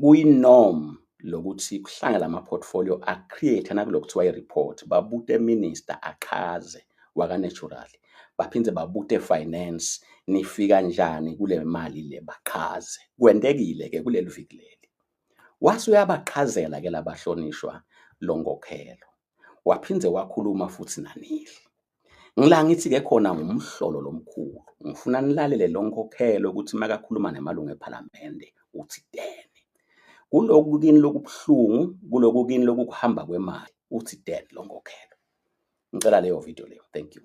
kuyinorm lokuthi kuhlangana ama-portfolio a-create nakulo kuthiwa i-report babute minister achaze waka-natural baphinde babute finance nifika njani kule mali le bachaze kwentekile-ke kuleli viki leli wase uyabachazela-ke labahlonishwa lo nkokhelo waphinde wakhuluma futhi nanili. Ngila ngithi-ke khona ngumhlolo lomkhulu, ngifuna nilalele lo nkokhelo ukuthi makakhuluma namalungu ePhalamende uthinteni. Kuloku kini lokubuhlungu, kuloku kini lokukuhamba kwemali, uthinteni lo nkokhelo. Ngicela leyo video leyo. Thank you.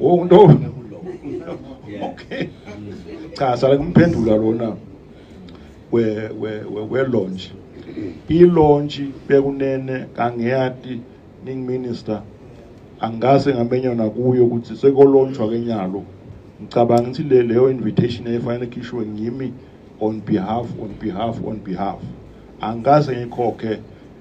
Oh no. Okay. Cha sala kumphendula lona we we we launch. I launch bekunene kangiyati ning minister angase ngamenya nakuyo ukuthi sekolontshwa kenyalo ngicabanga ukuthi le leyo invitation efanele khishwe ngimi on behalf on behalf on behalf angase ngikhokhe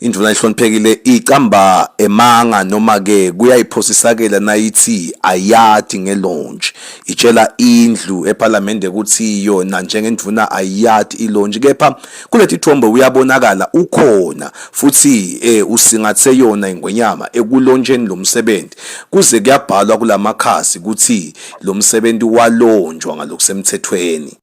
Induna ehloniphekile icamba emanga noma ke kuyayiphosisakela nayithi ayati ngelonje itshela indlu eParliament ukuthi yona njengenduna ayati ilonje kepha kuleti thombe uyabonakala ukhona futhi eh usingathe yona ingwenyama ekulonjeni lomsebenzi kuze kuyabhalwa kulamakhasi ukuthi lomsebenzi walonjwa ngalokusemthethweni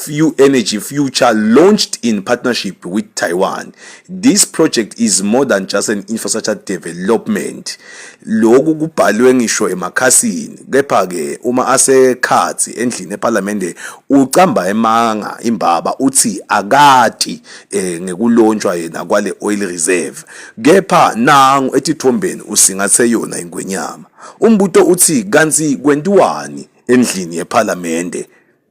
Few Energy Future launched in partnership with Taiwan. This project is more than just an infrastructure development. Lokhu kubhalwe ngisho emakhasini kepha ke uma asekhathi endlini eParliament ucamba emanga imbaba uthi akati eh, ngekulontshwa yena kwale oil reserve kepha nangu etithombeni usingathe yona ingwenyama. Umbuto uthi kanti kwentiwani endlini yeParliament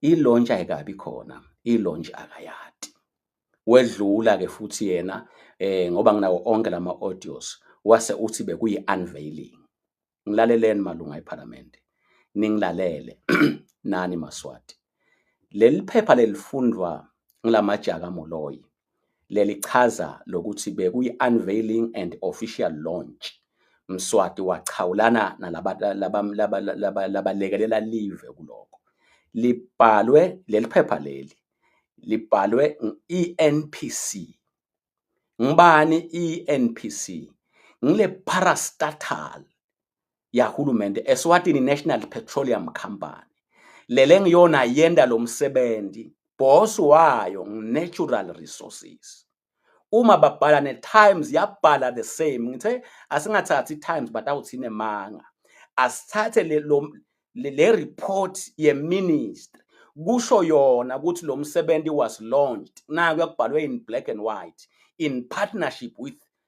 i-launch ayikabi khona i-launch akayati wedlula ke futhi yena eh ngoba nginawo onke lama audios wase uthi bekuyi unveiling ngilaleleni malunga eParliament ningilalele nani maswati leli phepha lelifundwa ngilamajaka moloyi Leli chaza lokuthi bekuyi-unveiling and official launch. Mswati wachawulana nalabalekelela live kuloko. Libhalwe leli phepha leli libhalwe i-NPC. Ngibani i-NPC? Ngile parastatal yahulumende Eswatini National Petroleum Company lele ngiyona yenda lo msebenzi boss wayo natural resources uma babhala ne-times yabhala the same ngithe asingathathi i-times but awuthine manga asithathe le, lo, le, le report yeministry kusho yona ukuthi lo msebenzi was launched nayo yakubhalwe in black and white in partnership with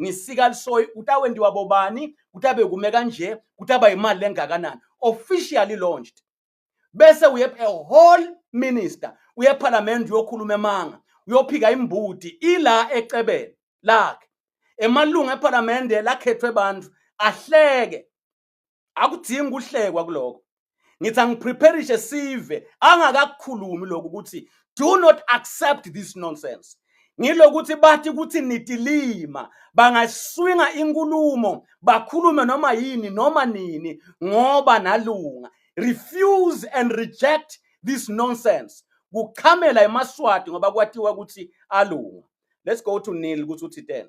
ngisika lisoyi ukuthi awendiwa bobani ukuthi abe kume kanje ukuthi aba yimali lengakanani officially launched bese uye a whole minister uye parliament uyokhuluma emanga uyophika imbuti ila ecebeni lakhe emalungu eparlamente lakhethwe abantu ahleke akudingi ukuhlekwa kuloko ngithi angipreparishe sive angakakukhulumi lokhu ukuthi do not accept this nonsense ngilokuthi bathi ukuthi nitilima bangaswinga inkulumo bakhulume noma yini noma nini ngoba nalunga refuse and reject this nonsense kuchamela emaswati ngoba kwatiwa ukuthi alunga let's go to Neil ukuthi uthi 10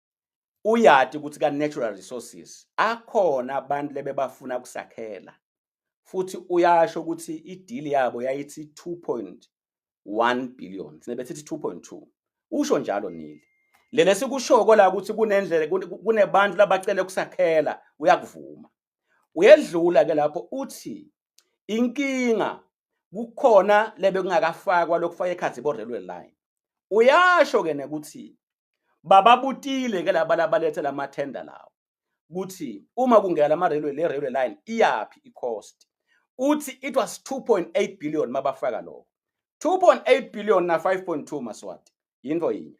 uyati ukuthi ka-natural resources akhona abantu lebebafuna kusakhela futhi uyasho ukuthi idili yabo yayithi 2.1 billion sine bethithi 2.2 usho njalo nili lele sikushoko la ukuthi kunendlela kunebantu labacele ukusakhela uyakuvuma uyedlula ke lapho uthi inkinga kukhona lebe kungakafakwa lokufaka ekhathi bo railway line uyasho ke nekuthi bababutile ke laba labalethe lama tender lawo ukuthi uma kungena lama railway le railway line iyaphi i cost uthi it was 2.8 billion mabafaka lokho 2.8 billion na 5.2 maswati yinto yinye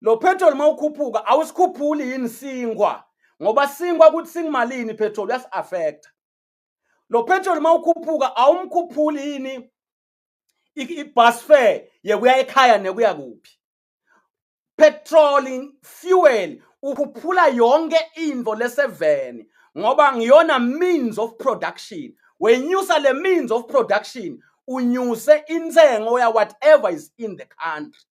lo petrol mawukhuphuka awusikhuphuli yini singwa ngoba singwa ukuthi singimalini petrol uyasi affect lo petrol mawukhuphuka awumkhuphuli yini ibus fare yekuya ekhaya nekuya kuphi petrol fuel ukhuphula yonke into leseveni ngoba ngiyona means of production wenyusa le means of production unyuse intengo ya whatever is in the country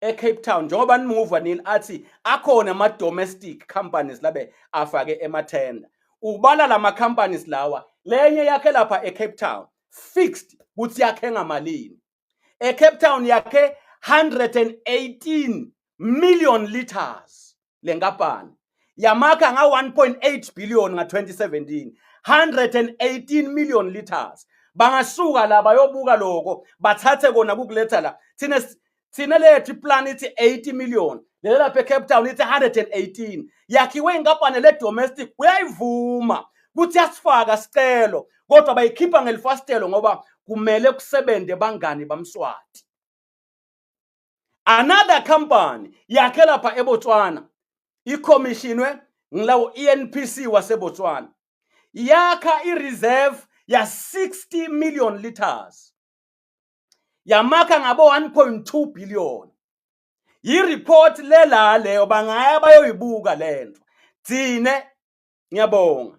eCape Town njengoba nimuva nini athi akhona ama domestic companies labe afake emathenda ubala lama companies lawa lenye yakhe lapha eCape Town fixed ukuthi yakhe ngamalini eCape Town yakhe 118 million liters le nkampani yamakha nga-1.8 billion nga-2017 118 million liters bangasuka la bayobuka loko bathathe kona kukuletha la thina thina lethu iplan ithi 80 million lelo lapha ecape town ithi 118 yakhiwe inkampani le-domestic uyayivuma kuthi yasifaka sicelo kodwa bayikhipha ngelifastelo ngoba kumele kusebenze bangani bamswati another company yakhe lapha eBotswana ikhomishinwe ngilawo ENPC waseBotswana yakha ireserve ya 60 million liters yamakha ngabo 1.2 billion yireport lela leyo bangaya bayoyibuka lento thine ngiyabonga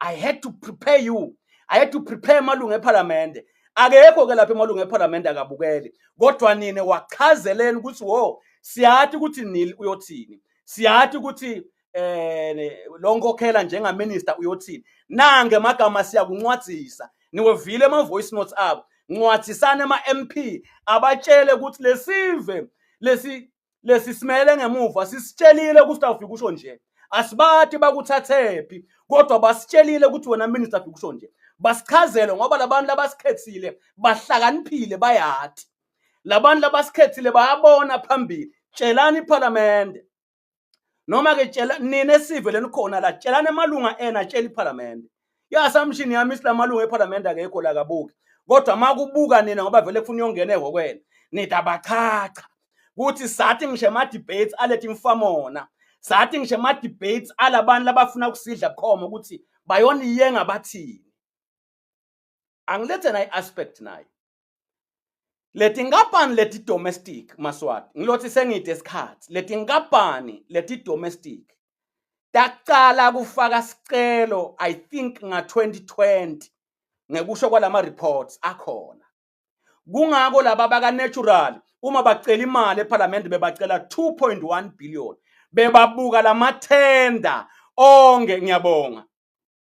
i had to prepare you i had to prepare amalungu ephalamende akekho ke lapha emalungu ephalamende akabukeli kodwa nine wachazeleni ukuthi wo siyathi ukuthi nil uyothini siyathi ukuthi eh lo nkokhela njengaminister uyothini nange magama siyakuncwadzisa niwevile ama voice notes abo ncwadzisane ama MP abatshele ukuthi lesive lesi lesi simele ngemuva sisitshelile ukuthi awufika usho nje asibati bakuthathephi kodwa basitshelile ukuthi wena minister afika usho nje basichazele ngoba labantu labasikhethile bahlakaniphile bayati labantu labasikhethile bayabona phambili tshelani iphalamende noma ke tshela nina esive lenikhona la tshelani emalunga ena tshela iphalamende I-assumption yami isilamalungu ephalamende akekho la kabuki kodwa uma kubuka nina ngoba vele kufuna uyongena ehhokweni nida bachacha kuthi sathi ngisho ema-debates alethi imfamona sathi ngisho ema-debates alabantu labafuna ukusidla bukhoma ukuthi bayoniyenga bathini angilethe nayi-aspect nayo Letinkampani leti domestic maswati ngilothi sengide isikhathi letinkampani leti domestic taqala kufaka sicelo I think nga 2020 ngekusho kwalama reports akhona kungako laba baka natural uma bacela imali ePhalamende bebacela 2.1 billion bebabuka lamathenda onke ngiyabonga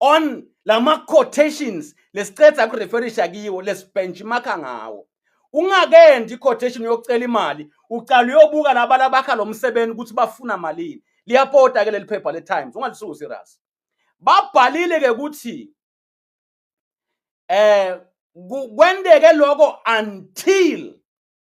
on lama quotations lesicetha ku referisha kiwo lesibenchmarka ngawo ungakendi iquotation yokucela imali ucala uyobuka laba labakha lo msebenzi ukuthi bafuna malini liyapota ke leli phepha le Times ungalisusi iras babhalile ke ukuthi eh kwendeke lokho until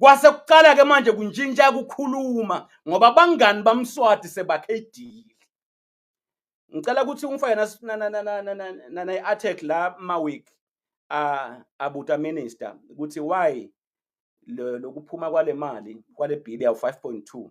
kwase kuqala ke manje kuntshintsha kukhuluma ngoba bangani bamswati sebakhe idili ngicela ukuthi ungifake nana i-article la maweek abuta minister ukuthi why lokuphuma kwale mali kwale bill yawu 5.2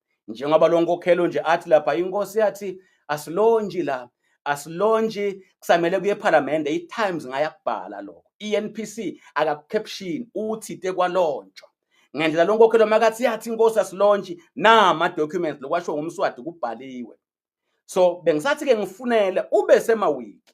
njengoba lo nkokhelo nje athi lapha inkosi yathi asilontshi la asilontshi kusamele kuye ephalamende i-times ngayakubhala lokho i-npc akakukhepshini uthi te kwalontshwa ngendlela lo nkokhelo makathi yathi inkosi asilontshi nama-documents lokwashiwo ngumswadi kubhaliwe so bengisathi-ke ngifunele ube semawiki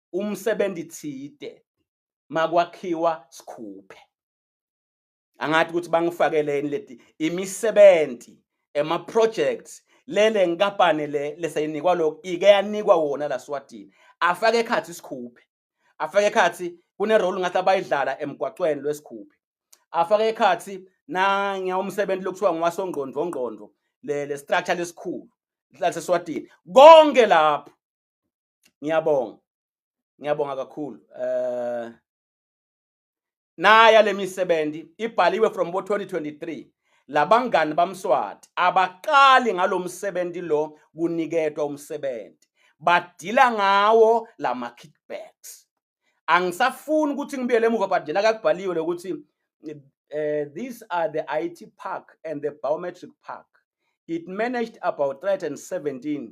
umsebenzi thide makwakhiwa sikhuphe angathi ukuthi bangifakeleni leti imisebenzi ema projects lele nkampani le leseyinikwa lokho ike yanikwa wona la Swatini afake ekhathi sikhuphe afake ekhathi kune role ngathi abayidlala emgwaqweni lwesikhuphe afake ekhathi na ngiyawumsebenzi lokuthiwa ngwasongqondo ngqondo le le structure lesikhulu laseswatini konke lapho ngiyabonga ngiyabonga kakhulu eh naya lemisebenzi ibhaliwe from bo 2023 labangani bamswati abaqali ngalomsebenzi lo kuniketwa umsebenzi badila ngawo lama kickbacks angisafuni ukuthi ngibuyele emuva but njena kakubhaliwe lokuthi eh these are the IT park and the biometric park it managed about 317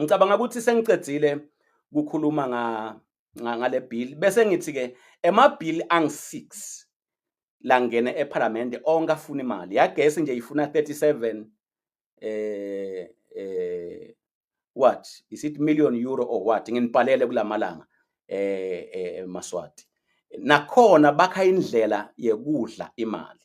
ngicabanga ukuthi sengiqedile kukhuluma nga ngale bill bese ngithi ke ema bill ang 6 langene ePhalamende onke afuna imali yagesi nje ifuna 37 eh eh what is it million euro or what nginibhalele kulamalanga eh, eh maswati nakhona bakha indlela yekudla imali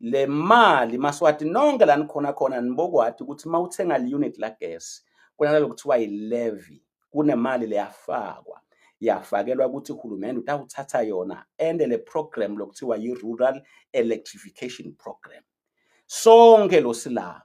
le mali maswati nonke la nikhona khona nibokwati ukuthi uma uthenga le unit la gas kunalelo kuthiwa yi-levy kunemali leyafakwa yafakelwa ukuthi uhulumende utawuthatha yona ende le program lokuthiwa yi-rural electrification program sonke lo silapha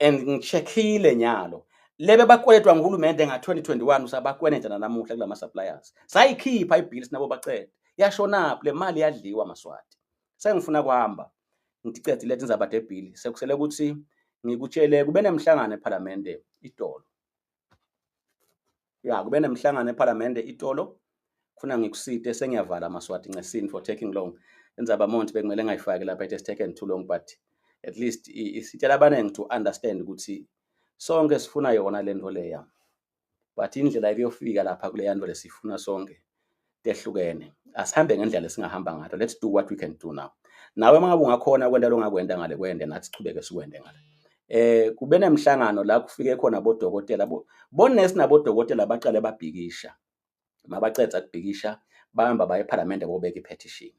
and ngichekhile nyalo lebe bakweletwa nguhulumende nga-2021 usabakweneta nanamuhla kulama suppliers sayikhipha ibhili sinabo bacede yashonaphi le mali yadliwa maswati sengifuna kuhamba ngicede lethe inzaba debhili sekusele ukuthi ngikutshele kube nemhlangano ephalamende idolo ya kube nemhlangano ephalamende itolo funa ngikusite sengiyavala maswati ncesin for taking long indzaba monti bekumele ngayifaki lapha it has taken too long but at least isitshela abaningi to understand ukuthi sonke sifuna yona le nto leya but indlela ekuyofika lapha kuleya nto lesifuna sonke tehlukene asihambe ngendlela esingahamba ngayo let's do what we can do now nawe mangabe ungakhona kwenta longakwenta ngale kwende nathi sichubeke sikwende ngale eh kube nemhlangano la kufike khona bodokotela bo bonesi nabodokotela baqale babhikisha mabacedza kubhikisha bahamba baye ephalamende bobeka iphetishini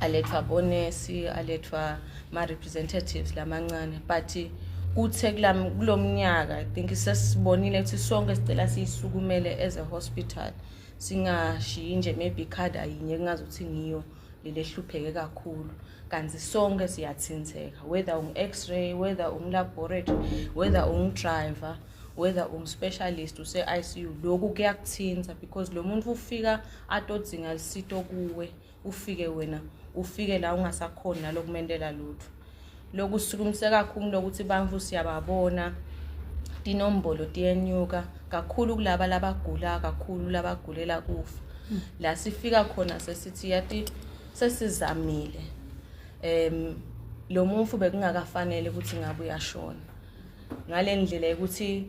alethwa bonesi alethwa ma-representatives lamancane but kuthe kulo mnyaka i think sesibonile ukuthi sonke sicela siyisukumele as a hospital singashiyi nje maybe ikhada yinye kungazi ukuthi ngiyo leli ehlupheke kakhulu kanti sonke siyathintheka whether ungu-x-ray whether ungulaboratory whether ungudriver whether ungu-specialist use-i c u lokhu kuyakuthintha because lo muntu ufika atodzinga lisito kuwe ufike wena ufike la ungasakhoni nalokumentela lutho lokusukumise kakhulu lokuthi bantu siyababona tinombolo tiyenyuka kakhulu kulaba labagula kakhulu labagulela kufa la sifika khona sesithi yati sesizamile em lo mufu bekungakafanele ukuthi ngabe uyashona ngalendlela ukuthi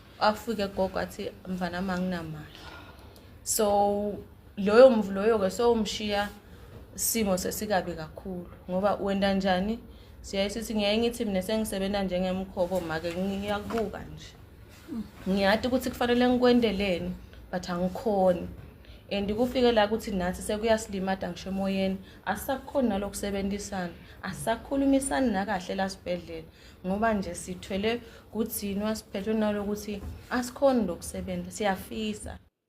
afike gogo athi mfana wami anginamali so loyo mvu loyo-ke sowumshiya simo sesikabi kakhulu ngoba wenda njani siyaye sithi ngiyaye ngithi mina sengisebenza njengemkhobo make ngiyakubuka nje ngiyati ukuthi kufanele ngikwendeleni but angikhoni and kufike la ukuthi nathi sekuyasilima-da ngisho emoyeni asisakukhoni nalokusebenzisana asisakhulumisani nakahle la sibhedlela ngoba nje sithwele kudzinwa siphethwe nalokuthi asikhoni lokusebenza siyafisa